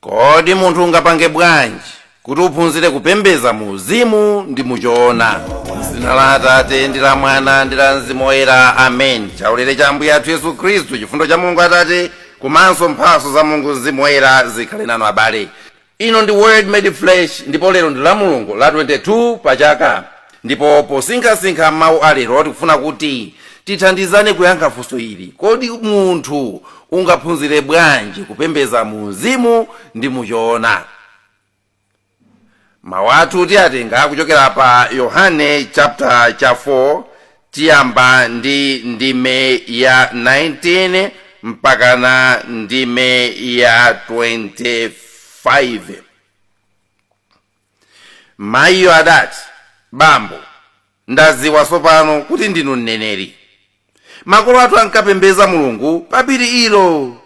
Kodi munthu ungapange bwanji kuti uphunzire kupembedza mu uzimu ndi mu choona? M'dzina la Atate ndi la Mwana ndi la Mzimu Woyera, amen. Chaulere cha Ambuye athu Yesu Khristu, chifundo cha Mulungu Atate, komanso mphatso za Mulungu Mzimu Woyera zikhale nanu abale. Ino ndi Word Made Flesh ndipo lero ndi la Mulungu la 22 pa chaka. Ndipo posinkhasinkha mawu a lero, tikufuna kuti tithandizane kuyankha funso ili, Kodi munthu ungaphunzire bwanji kupembedza mu mzimu ndi mu choona? Mawu athu tiyatenga kuchokera pa Yohane chapter cha 4 tiyamba ndi ndime ya 19 mpakana ndime ya 25. mayiyo adati bambo ndadziwa tsopano kuti ndinu mneneri makolo athu ankapembedza mulungu pa phiri ilo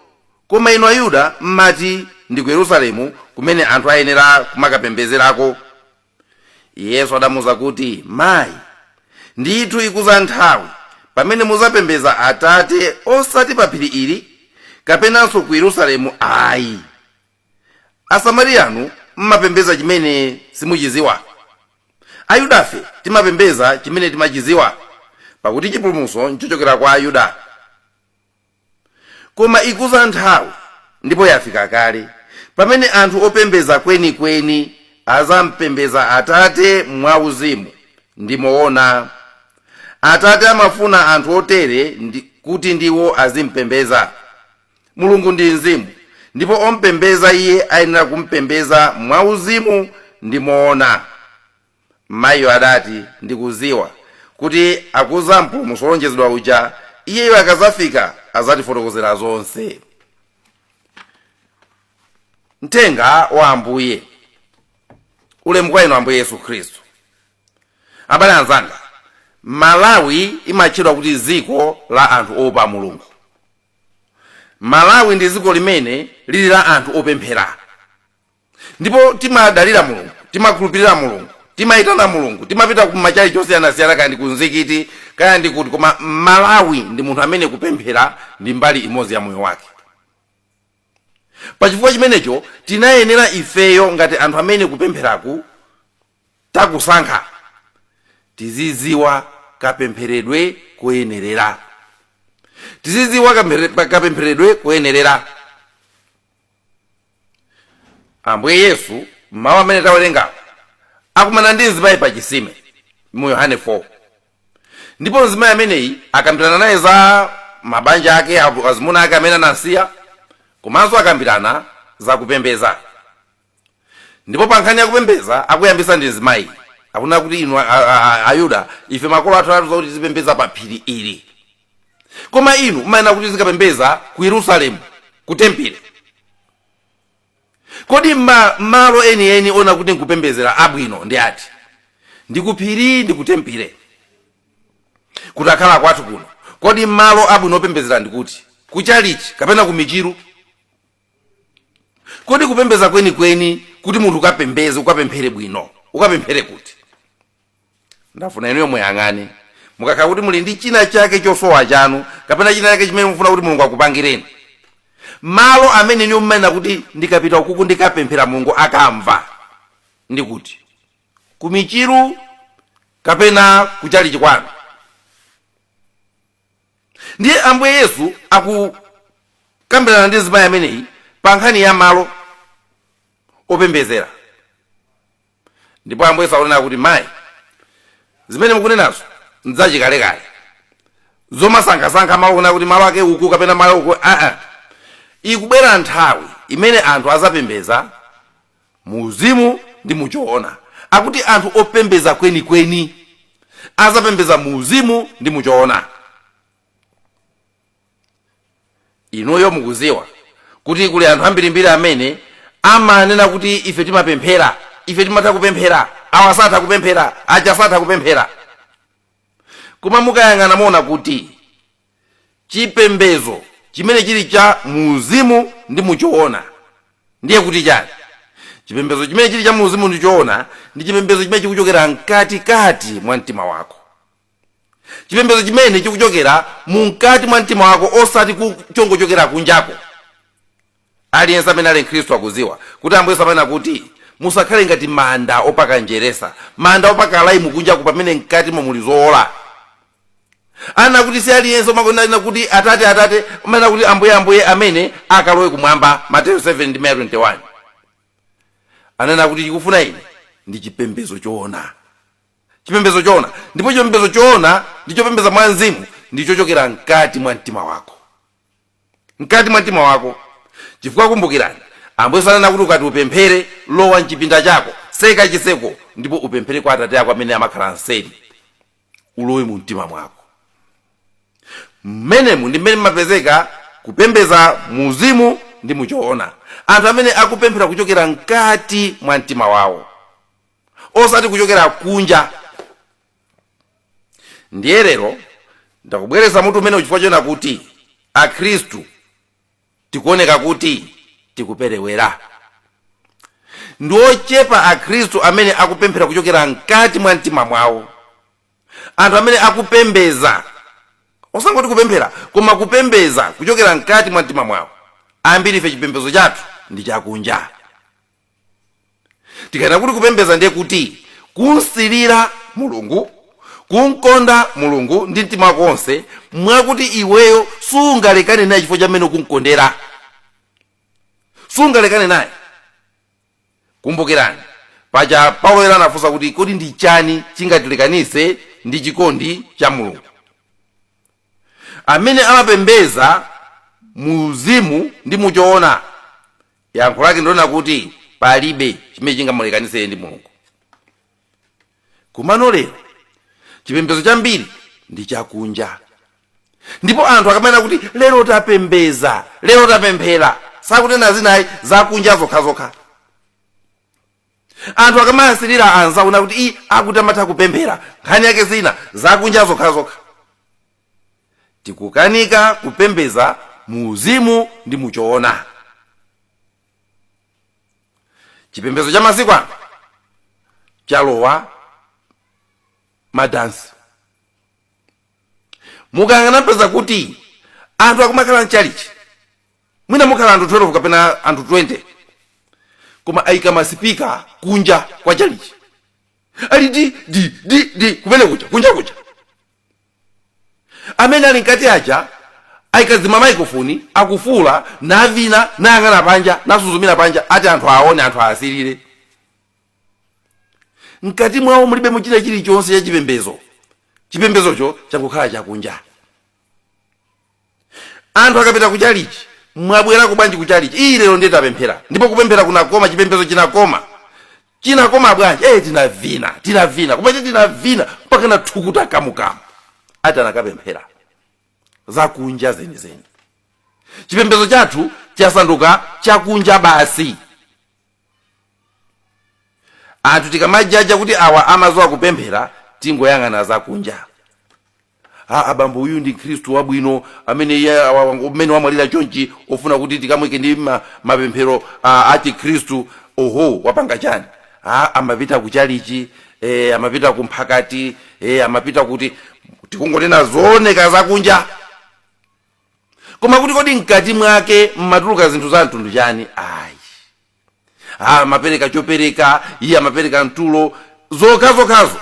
koma inu ayuda mmati ndi ku yerusalemu kumene anthu ayenera kumakapembedzerako yesu adamuuza kuti mayi ndithu ikudza nthawi pamene mudzapembedza atate osati pa phiri ili kapenanso ku yerusalemu ayi Asamariyanu m'mapembedza chimene simuchidziwa. Ayudafe timapembedza chimene timachidziwa, pakuti chipulumutso nchochokera kwa Ayuda. Koma ikudza nthawi, ndipo yafika kale, pamene anthu opembedza kwenikweni adzampembedza Atate mwa uzimu ndi moona. Atate amafuna anthu otere kuti ndiwo azimpembedza. Mulungu ndi Mzimu, ndipo om'pembedza Iye ayenera kum'pembedza mwauzimu ndi moona. Mayiyo adati, Ndikudziwa, kuti akudza Mpulumutsi wolonjezedwa uja, Iyeyo akadzafika, adzatifotokozera zonse. Mthenga wa Ambuye. Ulemu kwa Inu Ambuye Yesu Khristu. Abale anzanga, Malawi imatchedwa kuti dziko la anthu oopa Mulungu. Malawi ndi dziko limene lili la anthu opemphera ndipo timadalira Mulungu, timakhulupirira Mulungu, timaitana Mulungu, timapita ku machalichi osiyanasiyana kaya ndi ku mzikiti kaya ndi kuti koma Mmalawi ndi munthu amene kupemphera ndi mbali imodzi ya moyo wake. Pachifukwa chimenecho tinayenera ifeyo ngati anthu amene kupempheraku takusankhani tizidziwa kapempheredwe koyenerera tizidziwa kamphere- kapempheredwe koyenerera ambuye yesu mawu amene tawerengawo akumana ndi mzimayi pa chisime mu yohane 4 ndipo mzimayi ameneyi akambirana naye za mabanja ake avu- azimuna ake amene anamsiya komanso akambirana za kupembeza Ndipo pa nkhani ya kupembedza, akuyambitsa ndi mzimayi. Akunena kuti, Inu a, a, a, Ayuda, ife makolo athu anatiuza kuti tizipembedza pa phiri ili. Koma inu mumanena kuti tizikapembedza ku Yerusalemu, ku tempile. Kodi ma, malo enieni onena kuti nkupembedzera abwino ndi ati? Ndi ku phiri ndi ku tempile. Kutakhala kwathu kuno, kodi malo abwino opembedzera ndi kuti? Ku chalichi kapena ku michiru? kodi kupembeza kwenikweni kuti munthu ukapembeze ukapemphere bwino ukapemphere kuti ndafuna inuyo muyang'ane mukakhala kuti muli ndi china chake chosowa chanu kapena china chake chimene mufuna kuti mulungu akupangireni malo amene inuyo mumanena kuti ndikapita ukuku ndikapemphera mulungu akamva ndi kuti kumichiru kapena kuchalichi kwanu Ndiye Ambuye Yesu akukambirana ndi mzimayi ameneyi pa nkhani ya malo opembedzera. Ndipo Ambuye Yesu akunena kuti, Mayi, zimene mukunenazo n'zachikalekale. Zomasankhasankha malo kunena kuti malo ake uku kapena malo uku, aa. Ikubwera nthawi imene anthu adzapembedza mu uzimu ndi mu choona akuti anthu opembeza kwenikweni azapembeza mu uzimu ndi mu choona inuyo mukuziwa kuti kuli anthu ambirimbiri amene amanena kuti ife timapemphera ife timatha kupemphera awa satha kupemphera aja satha kupemphera koma mukayang'ana muona kuti chipembedzo chimene chili cha muuzimu ndi mu choona ndiye kuti chani chipembedzo chimene chili cha muuzimu ndi choona ndi chipembedzo chimene chikuchokera mkatikati mwa mtima wako chipembedzo chimene chikuchokera mu mkati mwa mtima wako osati ku chongochokera kunjako Aliyense amene ali Mkhristu akudziwa kuti Ambuye Yesu amanena kuti, Musakhale ngati manda opaka njeresa, manda opaka laimu kunjaku pamene mkatimo muli zowola. Anena kuti si aliyense amangonena kuti Atate, Atate, amanena kuti Ambuye, Ambuye amene akalowe kumwamba, Mateyu 7 ndime ya 21. Anena kuti chikufuna ine ndi chipembedzo choona. Chipembedzo choona. Ndipo chipembedzo choona ndi chopembedza mwa mzimu ndi chochokera mkati mwa mtima wako. mkati mwa mtima wako chifukwa kumbukirani ambuye ananena kuti ukati upemphere lowa mchipinda chako tseka chitseko ndipo upemphere kwa atate ako amene amakhala mseri ulowe mu mtima mwako mmenemu ndi mmene mmapezeka kupembedza mu uzimu ndi muchoona anthu amene akupemphera kuchokera mkati mwa mtima wawo osati kuchokera kunja ndiye lero ndakubweretserani mutu umenewu chifukwa chonena kuti akhristu tikuoneka kuti tikuperewera ndi ochepa akhristu amene akupemphera kuchokera mkati mwa mtima mwawo anthu amene akupembedza osangoti kupemphera koma kupembedza kuchokera mkati mwa mtima mwawo ambiri ife chipembedzo chathu ndi chakunja tikanena kuti kupembedza ndiye kuti kumsirira mulungu kumkonda mulungu ndi mtima wako wonse mwakuti iweyo sungalekane naye chifukwa chamene ukumkondera sungalekane naye kumbukirani paja paulo woyera anafunsa kuti kodi ndi chani chingatilekanitse ndi chikondi cha mulungu amene amapembedza mu uzimu ndi muchoona yankho lake ndi lonena kuti palibe chimene chingamulekanitse iye ndi mulungu komano lero chipembedzo cha ambiri ndi chakunja ndipo anthu akamanena kuti lero tapembedza lero tapemphera sakunena zina ayi zakunja zokhazokha anthu akamawasirira anzawo nkuti iii akuti amatha kupemphera nkhani yake zinthu zakunja zokhazokha tikukanika kupembedza mu uzimu ndi muchoona chipembedzo cha masiku ano chalowa madansi mukangona mupeza kuti anthu akumakhala mchalichi mwina mukhala anthu 12 kapena anthu 20 koma aika masipika kunja kwa chalichi ali di di di di kumene kuja kunja kuja amene ali mkati aja aika zima maikofoni akufuwula navina nayang'ana panja nasuzumira panja ati anthu aone anthu aasirire mkati mwawo mulibe mukuchitika chilichonse cha chipembedzo chipembedzocho changokhala chakunja Anthu akapita kuchalichi, Mwabwerako bwanji kuchalichi? Iii lero ndiye tapemphera ndipo kupemphera kunakoma, chipembedzo chinakoma. Chinakoma bwanji? Eeh tinavina, tinavina, koma eti tinavina mpakana thukuta kamu kamu. Ati anakapemphera. Zakunja zenizeni. Chipembedzo chathu chasanduka chakunja basi. anthu tikamajaja kuti awa amaziwa kupemphera tingoyang'ana zakunja a abambo uyu ndi mkhristu wabwino amene iye awa- wango- umene wamwalira chonchi ofuna kuti tikamwike ndi ma, mapemphero a, a chikhristu oho wapanga chani a amapita ku chalichi e, amapita ku mphakati e, amapita kuti tikungonena zooneka zakunja koma kuti kodi mkati mwake mmatuluka zinthu za mtundu chani ayi Ah, amapereka chopereka iye amapereka mtulo zokhazokhazo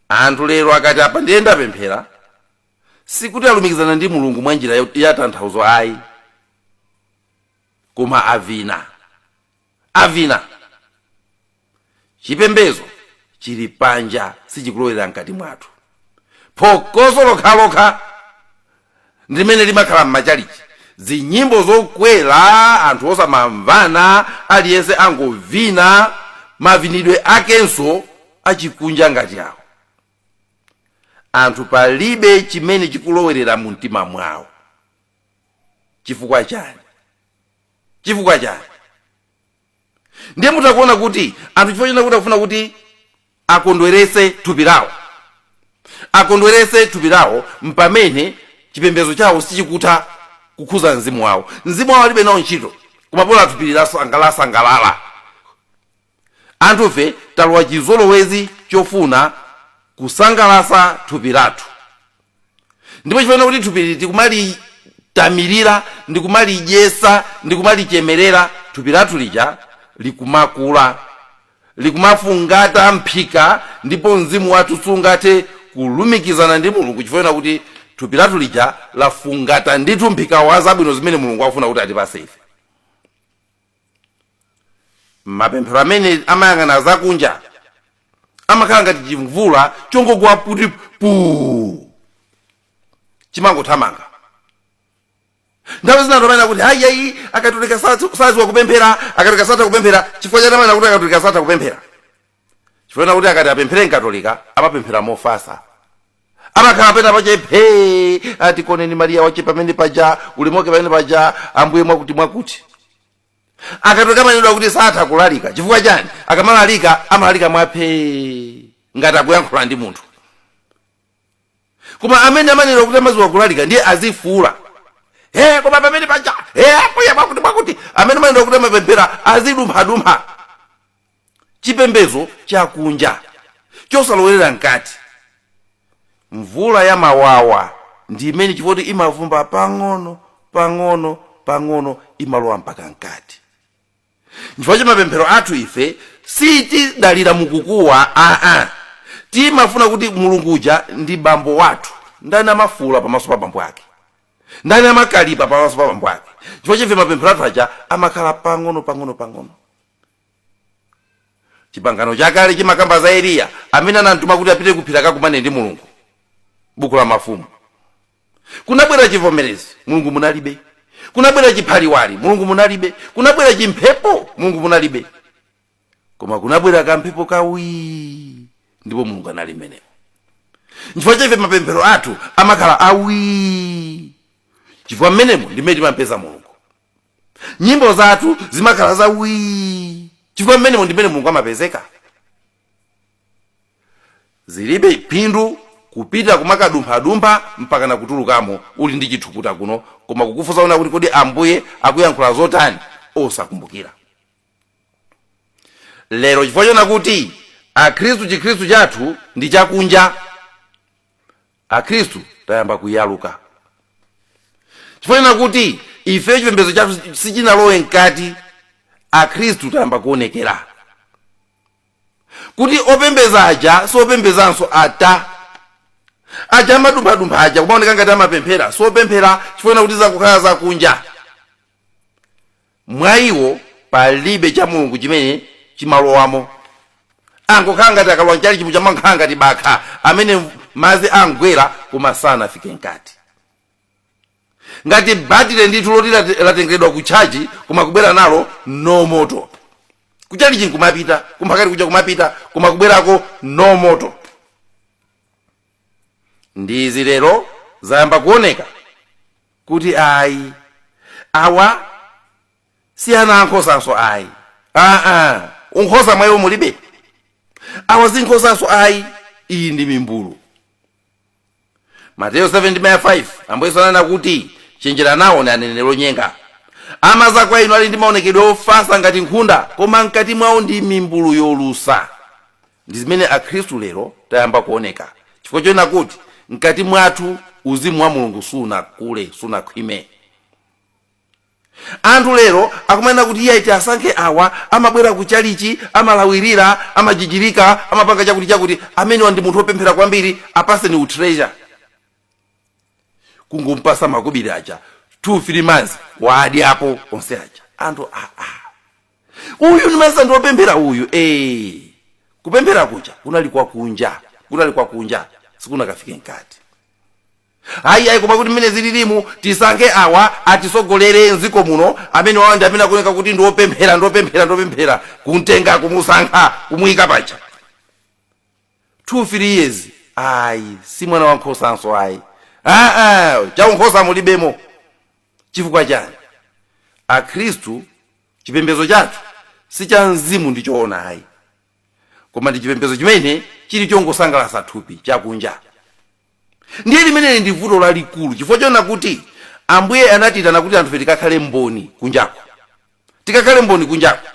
anthu lero akati apa ndiye ndapemphera sikuti alumikizana ndi mulungu mwa njira yo- ya tanthauzo ayi koma avina avina chipembezo chili panja sichikulowera mkati mwathu phokoso lokhalokha ndi limene limakhala m'machalichi zinyimbo zokwera anthu osamamvana aliyense angovina mavinidwe akenso achikunja ngati awo anthu palibe chimene chikulowerera mu mtima mwawo chifukwa chani chifukwa chani ndiye mutha kuona kuti anthu chifukwa chonena kuti akufuna kuti akondweretse thupi lawo akondweretse thupi lawo mpamene chipembedzo chawo sichikutha kukhuza mzimu wawo mzimu wawo alibe nawo ntchito koma bola thupi lawo lasangalalasangalala anthufe talowa chizolowezi chofuna kusangalatsa thupi lathu ndipo chifukwa chonena kuti thupili tikumalitamilira ndi kumalidyesa ndi kumalichemerera thupi lathu lija likumakula likumafungata mphika ndipo mzimu wathu sungathe kulumikizana ndi mulungu chifukwa chonena kuti thupi lathu lija lafungata ndithu mphika wa zabwino zimene mulungu akufuna kuti atipase ife mapemphero amene amayang'ana zakunja amakhala ngati chimvula chongogwa kuti puu chimangothamanga nthawi zina anthu amanena kuti hayiyayi akatolika satha- sadziwa kupemphera akatolika satha kupemphera chifukwa chani amanena kuti akatolika satha kupemphera chifukwa chakuti akati apemphere mkatolika amapemphera mofasa amakhala pena pache phee atikuoneni mariya wache pamene paja ulimoke pamene paja ambuye mwakuti mwakuti akatolika amanenedwa kuti satha kulalika chifukwa chani akamalalika amalalika mwaphee ngati akuyankhula ndi munthu koma amene amanenedwa kuti amaziwa kulalika ndiye azifuula he koma pamene paja he ambuye mwakuti mwakuti amene amanenedwa kuti amapemphera azidumphadumpha chipembedzo chakunja chosalowerera mkati mvula ya mawawa ndi imene chifukwa choti imavumba pang'ono pang'ono pang'ono imalowa mpaka mkati chifukwa cha mapemphero athu ife sitidalira mkukuwa aa timafuna kuti mulungu uja ndi bambo wathu ndani amafuula pamaso pa bambo ake ndani amakalipa pamaso pa bambo ake nchifukwa chake ife mapemphero athu aja amakhala pang'ono pang'ono pang'ono chipangano chakale chimakamba za eliya amene anamtuma kuti apite kuphiri akakumane ndi mulungu buku la mafumu kunabwera chivomerezi mulungu munalibe kunabwera chiphaliwali mulungu munalibe kunabwera chimphepo mulungu munalibe koma kunabwera kamphepo kawii ndipo mulungu anali mmenemo nchifukwa chake ife mapemphero athu amakhala awii chifukwa mmenemo ndi mmene timampeza mulungu nyimbo zathu zimakhala za wii chifukwa mmenemo ndi mmene mulungu amapezeka zilibe phindu kupita kumakadumphadumpha mpaka na kutulukamo uli ndi chithukuta kuno koma kukufunsa unena kuti kodi ambuye akuyankhula zotani osakumbukira lero chifukwa chonena kuti akhristu chikhristu chathu ndi chakunja akhristu tayamba kuyaluka chifukwa chonena kuti ife chipembedzo chathu sichinalowe mkati akhristu tayamba kuonekera kuti opembedza aja siopembedzanso ata aja amadumphadumpha aja kumaoneka ngati amapemphera siopemphera chifukwa chonena kuti zangokhala zakunja mwa iwo palibe cha mulungu chimene chimalowamo angokhala ngati akalowa mchalichi muja amakhala ngati bakha amene madzi amugwera koma sanafike mkati ngati batire ndithu loti latengeredwa ku tchaji koma kubwera nalo no moto kuchalichi nkumapita kumphakati kuja kumapita koma kubwerako no moto ndi izi lero zayamba kuoneka kuti ayi awa si ana ankhosanso ayi aa unkhosa mwa iwo mulibe awa si nkhosanso ayi iyi ndi mimbulu mateyo 7:5 ambuye yesu ananena kuti chenjerani nawo ndi aneneri onyenga amadza kwa inu ali ndi maonekedwe ofatsa ngati nkhunda koma mkati mwawo ndi mimbulu yolusa Ndi zimene Akhristu lero tayamba kuoneka chifukwa chonena kuti mkati mwathu uzimu wa Mulungu sunakule, sunakhwime. Anthu lero akumanena kuti iyayi tiasankhe awa, amabwera ku chalichi, amalawirira, amajijirika, amapanga chakuti chakuti, amenewa ndi munthu opemphera kwambiri, apaseni utreasurer. Kungompasa makobiri aja 2, 3 months waadyapo onse aja. Anthu aa! uyu nimesa ndi wopemphera uyu eh kupemphera kuja kunali kwa kunja kunali kwa kunja sikunakafike mkati ayi ayi koma kuti mmene zililimu tisankhe awa atisogolere mdziko muno amene awa ndi amene akuoneka kuti ndiopemphera ndiopemphera ndiopemphera kumtenga kumusankha kumuyika paja 2 3 years ayi si mwana wankhosanso ayi aa chaunkhosa mulibemo chifukwa chani akhristu chipembedzo chathu si cha mzimu ndi choona ayi koma ndi chipembedzo chimene chili chongosangalatsa thupi chakunja ndiye limeneli ndi vuto lalikulu chifukwa chonena kuti ambuye anatiitana kuti anthufe tikakhale mboni kunjako tikakhale mboni kunjako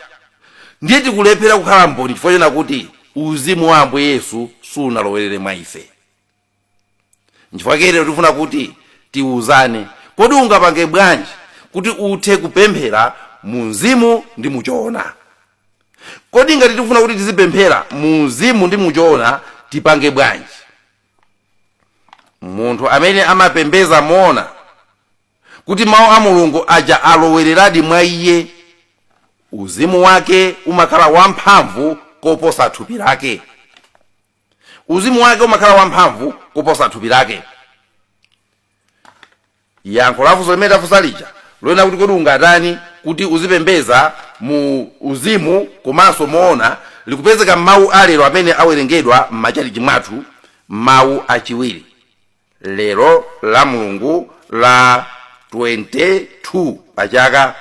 ndiye tikulephera kukhala mboni chifukwa chonena kuti uzimu wa ambuye yesu sunalowerere mwa ife nchifukwa chake lero tikufuna kuti tiwuzane kodi ungapange bwanji kuti uthe kupemphera mu mzimu ndi muchoona kodi ngati tikufuna kuti tizipemphera mu mzimu ndi muchoona tipange bwanji munthu amene amapembedza moona kuti mawu a mulungu aja alowereradi mwa iye uzimu wake umakhala wamphamvu koposa thupi lake uzimu wake umakhala wamphamvu kuposa thupi lake yankho la funso limene tafunsa lija lonena kuti kodi ungatani kuti uzipembedza mu uzimu komanso moona likupezeka m'mawu a lero amene awerengedwa m'machalichi mwathu mawu achiwiri lero la mulungu la 22 pachaka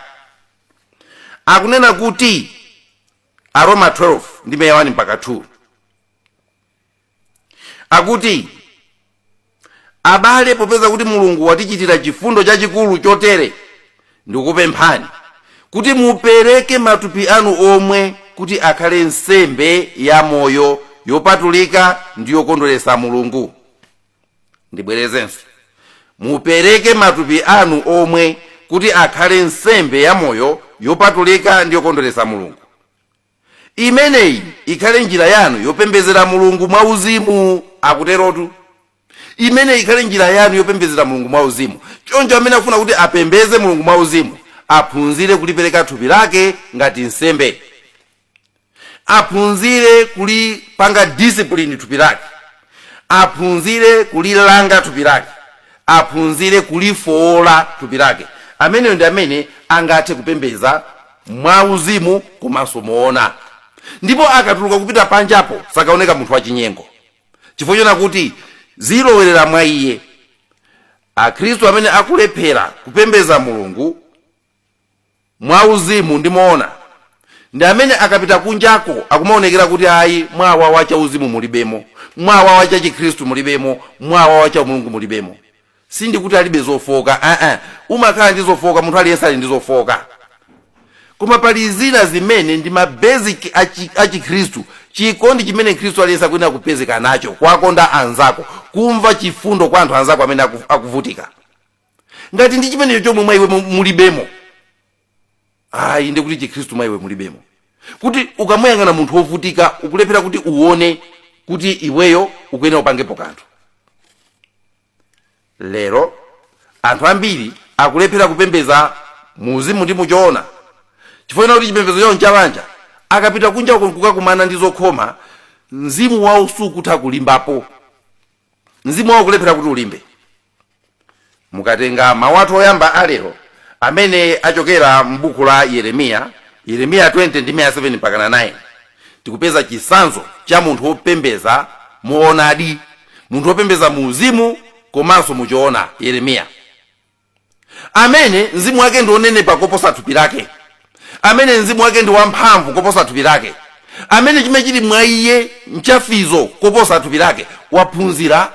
akunena kuti aroma 12 ndime ya 1 mpaka 2 akuti abale popeza kuti mulungu watichitira chifundo chachikulu chotere ndikupemphani kuti mupereke matupi anu omwe kuti akhale nsembe ya moyo yopatulika ndi yokondweretsa mulungu ndibwerezenso mupereke matupi anu omwe kuti akhale nsembe yamoyo yopatulika ndi yokondweretsa mulungu imeneyi ikhale njira yanu yopembedzera mulungu mwa uzimu akuterotu imeneyi ikhale njira yanu yopembedzera mulungu mwa uzimu choncho amene akufuna kuti apembedze mulungu mwa uzimu aphunzire kulipereka thupi lake ngati nsembe aphunzire kulipanga discipline thupi lake aphunzire kulilanga thupi lake aphunzire kulifoola thupi lake ameneyo ndi amene angathe kupembedza mwauzimu komanso moona ndipo akatuluka kupita panjapo sakaoneka munthu wachinyengo chifukwa chonena kuti zilowerera mwa iye akhristu amene akulephera kupembedza mulungu mwauzimu ndi moona ndi amene akapita kunjako akumaonekera kuti ayi mwawawa chauzimu mulibemo mwawawa cha chikhristu mulibemo mwawawa cha umulungu mulibemo sindikuti alibe zofooka aa umakhala ndi zofooka munthu aliyense ali ndi zofooka koma pali zina zimene ndi ma basic achi- achikhristu chikondi chimene mkhristu aliyense akuyenera kupezeka nacho kuwakonda anzako kumva chifundo kwa anthu anzako amene aku- akuvutika ngati ndi chimenecho chomwe mwa iwe mu- mulibemo ayi ndi kuti chikhristu mwa iwe mulibemo kuti ukamuyang'ana munthu wovutika ukulephera kuti uone kuti iweyo ukuyenera upangepo kanthu lero anthu ambiri akulephera kupembeza muuzimu ndi muchoona chifukwa choti chipembedzo chawo nchabanja akapita kunja uko nkukakumana ndi zokhoma mzimu wawo sukutha kulimbapo mzimu wawo kulephera kuti ulimbe mukatenga mawu athu oyamba alero amene achokera m'buku la yeremiya yeremiya 20 ndime ya 7 mpaka 9 tikupeza chisanzo cha munthu wopembeza moonadi munthu wopembeza mu uzimu komanso muchoona yeremiya amene mzimu wake ndi wonenepa koposa thupi lake amene mzimu wake ndi wamphamvu koposa thupi lake amene chimene chili mwa iye nchamphamvu koposa thupi lake waphunzira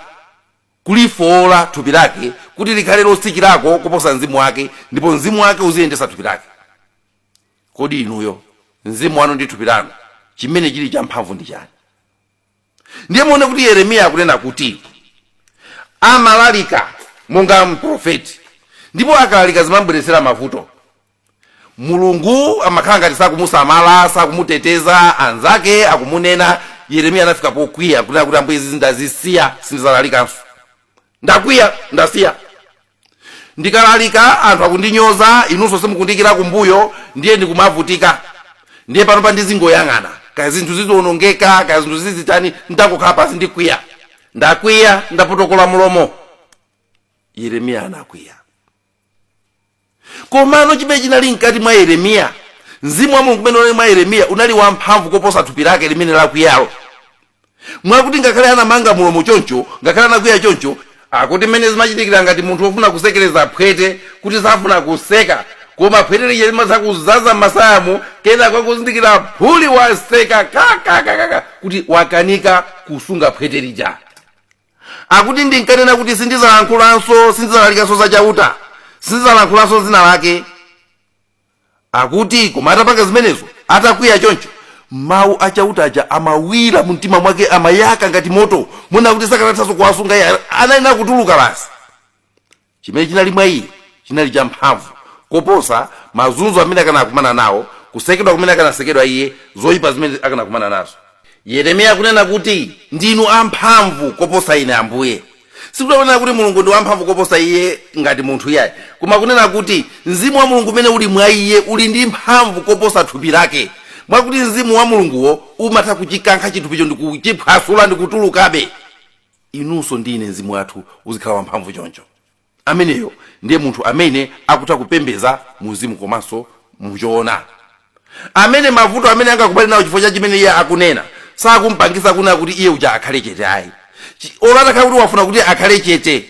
kulifowola thupi lake kuti likhale lotsikirako koposa mzimu wake ndipo mzimu wake uziyendesa thupi lake kodi inuyo mzimu wanu ndi thupi lanu chimene chili champhamvu ndi chani ndiye muone kuti yeremiya akunena kuti amalalika monga mprofeti ndipo akalalika zimamubweretsera mavuto mulungu amakhala ngati sakumusamala sakumuteteza anzake akumunena yeremiya anafika pokwiya kunena kuti ambuye izi ndazisiya sindidzalalikanso ndakwiya ndasiya Ndikalalika anthu akundinyoza, inunso simukundiikira kumbuyo, ndiye ndikumavutika. Ndiye panopa ndizingoyang'ana, kaya zinthu zizionongeka, kaya zinthu zizitani, ndikhala pansi ndikwiya. Ndakwiya, ndapotokola mlomo. Yeremiya anakwiya. Komano chimene chinali mkati mwa Yeremiya, mzimu wa Mulungu umene unali mwa Yeremiya unali wamphamvu koposa thupi lake limene lakwiyalo. mwakuti ngakhale anamanga mulomo choncho ngakhale anakwiya choncho akuti mmene zimachitikira ngati munthu wofuna kusekereza phwete kuti safuna kuseka koma phwete lija limadzakuzaza m'masayamu kenaka akuzindikira phuli waseka kakakakaka kuti wakanika kusunga phwete lija akuti ndinkanena kuti sindizalankhulanso sindizalalikanso za chauta sindizalankhulanso dzina lake Akuti, Koma atapanga zimenezo, atakwiya choncho, Mawu a Chauta aja amawira mumtima mwake, amayaka ngati moto, moona kuti sakanathanso kuwasunga iye, anayenera kutuluka basi. Chimene chinali mwa iye chinali champhamvu koposa mazunzo amene akanakumana nawo, kusekedwa kumene akanasekedwa iye, zoipa zimene akanakumana nazo. Yeremiya akunena kuti, Ndinu amphamvu koposa ine, Ambuye. Sikuti akunena kuti Mulungu ndi wamphamvu koposa iye ngati munthu iyayi, koma akunena kuti Mzimu wa Mulungu umene uli mwa iye uli ndi mphamvu koposa thupi lake, mwakuti Mzimu wa Mulunguwo umatha kuchikankha chithupicho ndi kuchiphwasula ndi kutulukabe. Inunso ndi ine mzimu wathu uzikhala wamphamvu choncho. Ameneyo ndiye munthu amene akutha kupembedza mu mzimu komanso mu choona. Amene mavuto amene angakumane nawo chifukwa cha chimene iye akunena sakumpangitsa kunena kuti iye uja akhale chete ayi. Olo atakhala kuti wafuna kuti akhale chete,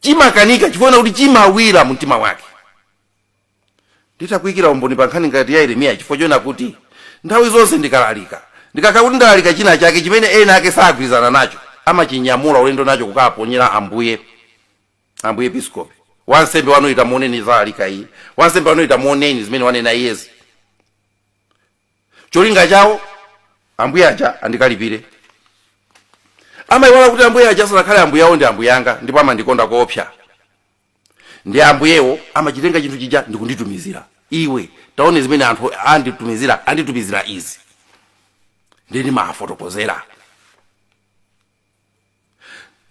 chimakanika chifukwa kuti chimawira mu mtima wake. Nditha kuikira umboni pa nkhani ngati ya Yeremiyayi chifukwa chonena kuti, Nthawi zonse ndikalalika, ndikakhala kuti ndalalika chinachake chimene ena ake sagwirizana nacho, amachinyamula ulendo nacho kukaponyera Ambuye Episkopi, wansembe wanuyu tamuoneni zalalika izi, wansembe wanuyu tamuoneni zimene wanena iyezi. Cholinga chawo, Ambuye aja andikalipire. Amaiwala kuti Ambuye aja asanakhale Ambuye awo ndi Ambuye anga ndipo amandikonda koopsa. ndi ambuyewo amachitenga chinthu chija ndikunditumizira iwe taona zimene anthu anditumizira anditumizira izi ndiye ndimafotokozera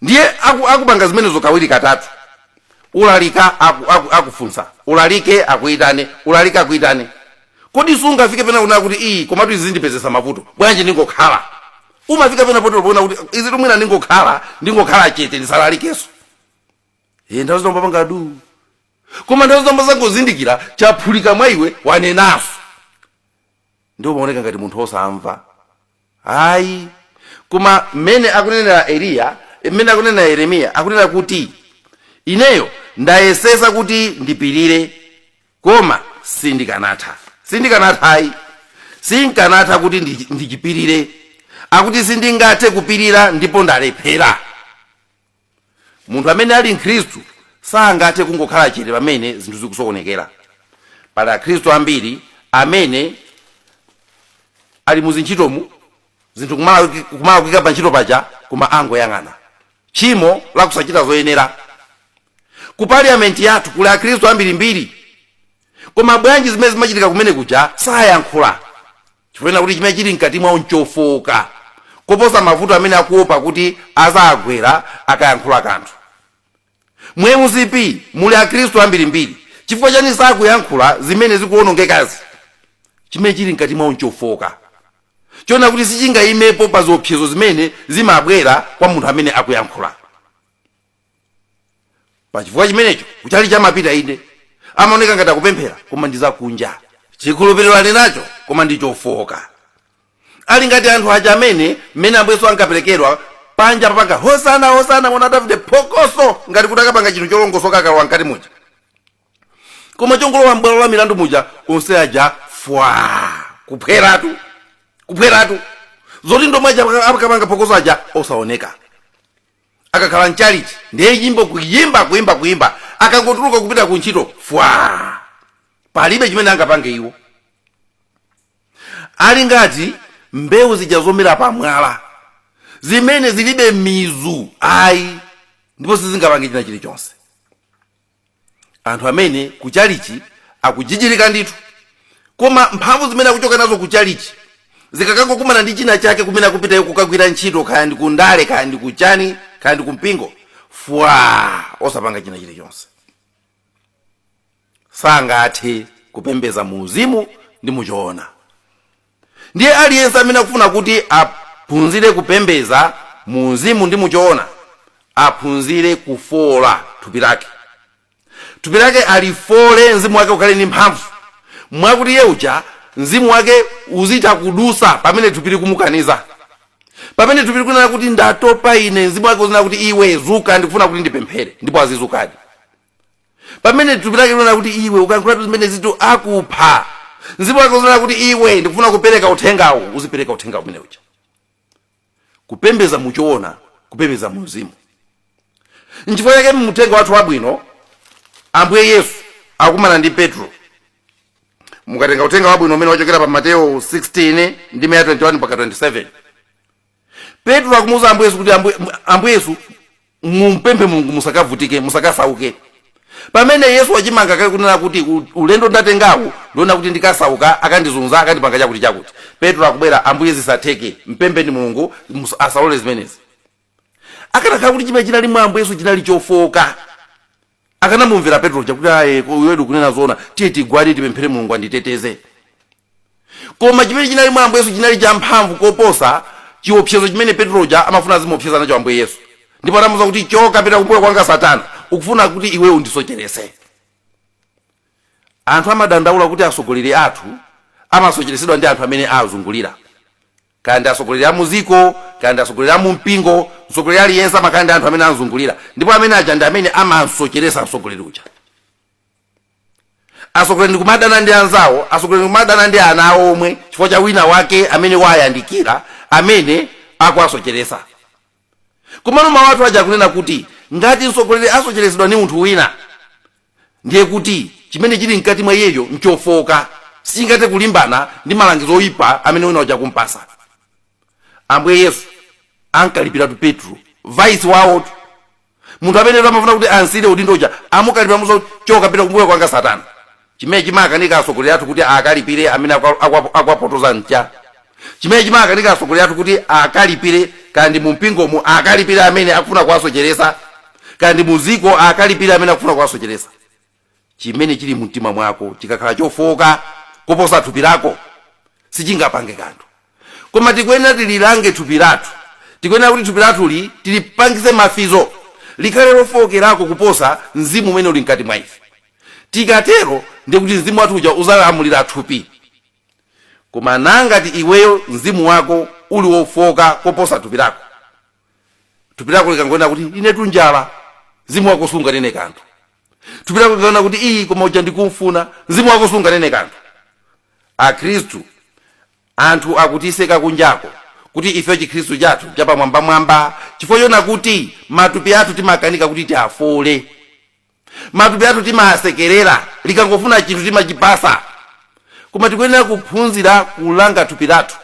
ndiye aku, akupanga zimenezo kawiri katatu ulalika aku, aku, akufunsa ulalike akuitane ulalike akuitane kodi sungafike pena kunena kuti iyi komatu izi zindipezesa mavuto bwanji ndingokhala umafika pena poto ponena kuti izitu mwina ndingokhala ndingokhala chete ndisalalikenso e, nthawi zina umapanga du koma nthawi zina umazangozindikira chaphulika mwa iwe wanenaso ndiye umaoneka ngati munthu osamva ayi koma mmene akunenera eliya mmene akunenera yeremiya akunena kuti ineyo ndayesesa kuti ndipirire koma sindikanatha sindikanatha ayi sindikanatha kuti ndi- ndichipirire akuti sindingathe kupirira ndipo ndalephera munthu amene ali mkhristu sangathe kungokhala chete pamene zinthu zikusokonekera pali akhristu ambiri amene ali mu zintchitomu zinthu kumalakwika pa ntchito paja koma angoyang'ana tchimo la kusachita zoyenera ku parliamenti yathu kuli akhristu ambirimbiri koma bwanji zimene zimachitika kumene kuja sayankhula chifukwa kuti chimene chili mkati mwawo nchofooka koposa mavuto amene akuopa kuti azagwera akayankhula kanthu mu mcp muli akhristu ambirimbiri chifukwa chani sakuyankhula zimene zikuwonongekazi chimene chili mkati mwawo nchofooka chona kuti sichingayimepo pa ziopsezo zimene zimabwera kwa munthu amene akuyankhula pachifukwa chimenecho kuchalichi amapita inde amaoneka ngati akupemphera koma ndi zakunja chikhulupiriro ali nacho koma ndi chofooka ali ngati anthu aja amene mmene ambuye yesu ankaperekedwa panja papanga hosana hosana mwana wa davide phokoso ngati kuti akapanga chinthu cholongosoka akalowa mkati muja koma chongolowa m'bwalo la milandu muja onse aja fwa kuphweratu kuphweratu zoti ndi omwe aja akapanga phokoso aja osaoneka akakhala mchalichi ndiye nyimbo kuyimba kuyimba kuyimba akangotuluka kupita ku ntchito fwa palibe chimene angapange iwo ali ngati mbewu zija zomera pamwala zimene zilibe mizu ayi ndipo sizingapange china chilichonse anthu amene ku chalichi akujijirika ndithu koma mphamvu zimene akuchoka nazo ku chalichi zikakangokumana ndi china chake kumene akupitayo kukagwira ntchito kaya ndi kundale kaya ndi kuchani kaya ndi kumpingo fwa osapanga china chilichonse sangathe kupembeza mu uzimu ndi muchoona Ndiye aliyense amene akufuna kuti aphunzire kupembedza muuzimu ndi muchoona aphunzire kufoola thupi lake. Thupi lake alifoole mzimu wake ukhale ndi mphamvu mwakuti iye uja mzimu wake uzitha kudutsa pamene thupi likumukaniza. Pamene thupi likunena kuti ndatopa ine, mzimu wake uzinena kuti iwe dzuka ndikufuna kuti ndipemphere ndipo azizukadi. pamene thupi lake likunena kuti iwe ukayankhulatu zimenezitu akupha mzimu wake uzinena kuti iwe ndikufuna kupereka uthengawu uzipereka uthenga umene uja kupembeza muchoona kupembeza mu mzimu nchifukwa chake mu uthenga wathu wabwino ambuye yesu akumana ndi petro mukatenga uthenga wabwino umene wachokera pa mateyo 16 ndime ya 21 mpaka 27 Petro akumuuza Ambuye Yesu kuti, Ambuye, Ambuye Yesu, mumpemphe Mulungu musakavutike, musakasauke. Pamene Yesu wachimanga kale kunena kuti "U- ulendo ndatengawu ndiona kuti ndikasauka, akandizunza, akandipanga chakuti chakuti. Petro akubwera, Ambuye zisatheke, mpempheni Mulungu mus- asalole zimenezi. Akanakhala kuti chimene chinali mwa Ambuye Yesu chinali chofooka, akanamumvera petro uja kuti ayi iwetu ukunena zoona tiye tigwade tipemphere mulungu anditeteze koma chimene chinali mwa ambuye yesu chinali champhamvu koposa chiopsezo chimene petro uja amafuna azimuopseza nacho ambuye yesu ndipo anamuuza kuti choka pita kumbuyo kwanga satana ukufuna kuti iwe undisocherese anthu amadandaula kuti atsogoleri athu amasocheresedwa ndi anthu amene awazungulira Kaya ndi atsogoleri a mu dziko, kaya ndi atsogoleri a mu mpingo, mtsogoleri aliyense amakhala ndi anthu amene amzungulira, ndipo amene aja ndi amene amamsocheretsa mtsogoleri uja. Atsogoleri ndi kumadana ndi anzawo, atsogoleri ndi kumadana ndi ana awo omwe chifukwa cha wina wake amene waayandikira amene akuwasocheretsa. Komano mawu athu aja akunena kuti ngati mtsogoleri asocheretsedwa ndi munthu wina, ndiye kuti chimene chili mkati mwa iyeyo n'chofooka, sichingathe kulimbana ndi malangizo oipa amene wina uja akum'patsa. Ambuye Yesu ankalipiratu Petro, vaisi wawotu! munthu amene amafuna kuti amsiyire udindo uja amukalipira kumuuza kuti choka pita kumbuyo kwanga satana chimene chimakanika atsogoleri athu kuti akalipire amene akuwapotoza ncha chimene chimakanika atsogoleri athu kuti akalipire kaya ndi mumpingomu akalipire amene akufuna kuwasocheresa kaya ndi muziko akalipire amene akufuna kuwasocheresa Chimene chili mumtima mwako chikakhala chofooka koposa thupi lako, sichingapange kanthu. Koma tikuyenera tililange thupi lathu. Tikuyenera kuti thupi lathuli tilipangitse mafizo, likhale lofookerako kuposa mzimu umene uli mkati mwa ife. Tikatero, ndiye kuti mzimu wathu uja udzalamulira thupi. Komano ngati iweyo mzimu wako uli wofooka koposa thupi lako, thupi lako likangonena kuti, Inetu njala, mzimu wako sunganene kanthu. thupi lako likanena kuti iyi koma uja ndikumfuna mzimu wako sunganene kanthu akhristu anthu akutiseka kunjako kuti ife chikhristu chathu chapamwambamwamba chifukwa chonena kuti matupi athu timakanika kuti tiafoole matupi athu timasekerera likangofuna chinthu timalipasa koma tikuyenera kuphunzira kulanga thupi lathu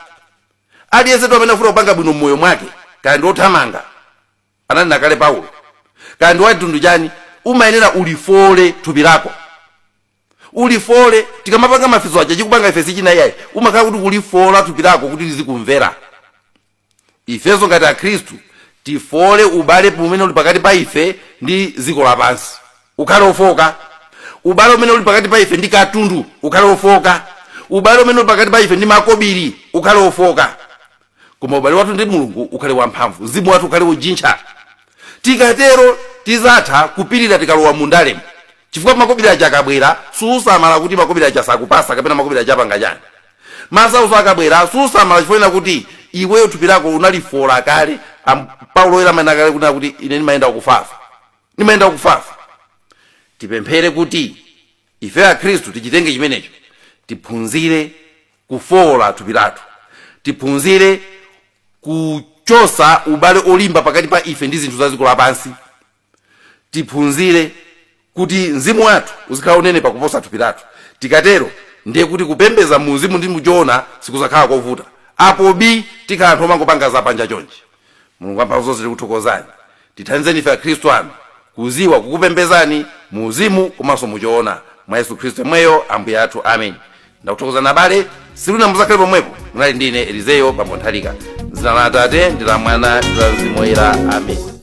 aliyense amene akufuna kupanga bwino mmoyo mwake kaya ndi othamanga ananena kale paulo kaya ndi wamtundu chani umayenera ulifoole thupi lako ulifoole tikamapanga mafizo aja chikupanga ife sichina iyayi umakhala kuti ukulifoola thupi lako kuti lizikumvera ifenso ngati akhristu tifoole ubale umene uli pakati pa ife ndi dziko lapansi ukhale ofooka ubale umene uli pakati pa ife ndi katundu ukhale ofooka ubale umene uli pakati pa ife ndi makobiri ukhale ofooka koma ubale wathu ndi mulungu ukhale wamphamvu mzimu wathu ukhale wojintcha tikatero tizatha kupirira tikalowa mu ndalemo chifukwa makobiri aja akabwera susamala kuti makobiri aja sakupasa kapena makobiri aja apanga chani masauso akabwera susamala chifukwa kuti iweyo thupi lako unalifoola kale paulo oyera ananena kale kunena kuti ine ndimayenda wakufafa ndimayenda wakufafa tipemphere kuti ife akhristu tichitenge chimenecho tiphunzire kufowola thupi lathu tiphunzire kuchosa ubale olimba pakati pa ife ndi zinthu za dziko lapansi tiphunzire kuti mzimu wathu uzikhala onenepa kuposa thupi lathu tikatero ndiye kuti kupembeza mu mzimu ndi muchoona sikuzakhala kovuta apo bii tikhala anthu omangopanga zapanja chonchi mulungu amphamvu zonse tikuthokozani tithandizeni ife akhristu anu kuziwa kukupembezani mu uzimu komanso muchoona mwa yesu khristu yemweyo ambuye athu amen ndakuthokozani abale siluna muzakhale pomweko munali ndi ine eliseo bambo nthalika mzina la atate ndi la mwana ndi la mzimu woyera amen